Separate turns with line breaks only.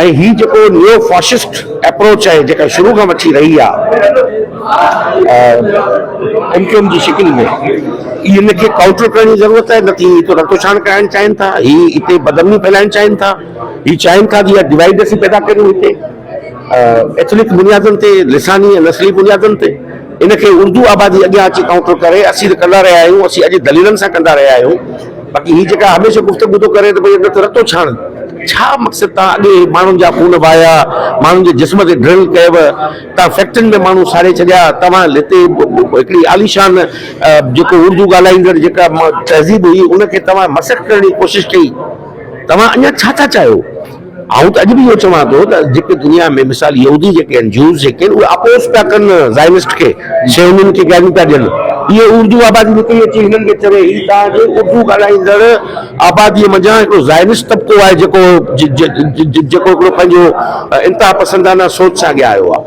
۽ هي جيڪو neo fascist approach آهي جيڪا شروع کان وٺي رهي آ ايم ڪيو ايم جي شڪل ۾ هي ان کي ڪائونٽر ڪرڻ جي ضرورت آهي نه ته هي اتو رتوڇاڻ ڪرائڻ چاهين ٿا هي اتي بدامني ڦهلائڻ چاهين ٿا هي چاهين ٿا ته اها ڊوائيڊ اسين پيدا ڪريون هتي ايٿنڪ بنيادن تي لساني ۽ نسلي بنيادن تي ان کي اردو آبادي اڳيان اچي ڪائونٽر ڪري اسين ته ڪندا رهيا آهيون اسين اڄ دليلن سان ڪندا رهيا آهيون. باقي هي جيڪا هميشه گفتگو ٿو ڪري ته ڀئي اندر ته رتو ڇاڻ ڇا مقصد تان اڳي ماڻهن جا خون وهايا ماڻهن جي جسم تي ڊرل ڪيو تان فيڪٽرين ۾ ماڻهو ساڙي ڇڏيا توهان هتي هڪڙي عاليشان جيڪو اردو ڳالهائيندڙ جيڪا تهذيب هئي ان کي توهان مسخ ڪرڻ جي ڪوشش ڪئي توهان اڃا ڇا ٿا چاهيو آئون ته اڄ به اهو چوان ٿو ته جيڪي دنيا ۾ مثال يهودي جيڪي آهن، جوز جيڪي آهن، اهي اپوز پيا ڪن زائنسٽ کي، صهيونين کي گاريون پيا ڏين. اهي اردو آبادي نڪري اچي هنن کي چوي هي توهان جي اردو ڳالهائيندڙ آباديء منجهان هڪڙو زائنسٽ طبقو آهي جيڪو جيڪو هڪڙو پنهنجو انتها پسندانه سوچ سان اڳيان آيو آهي.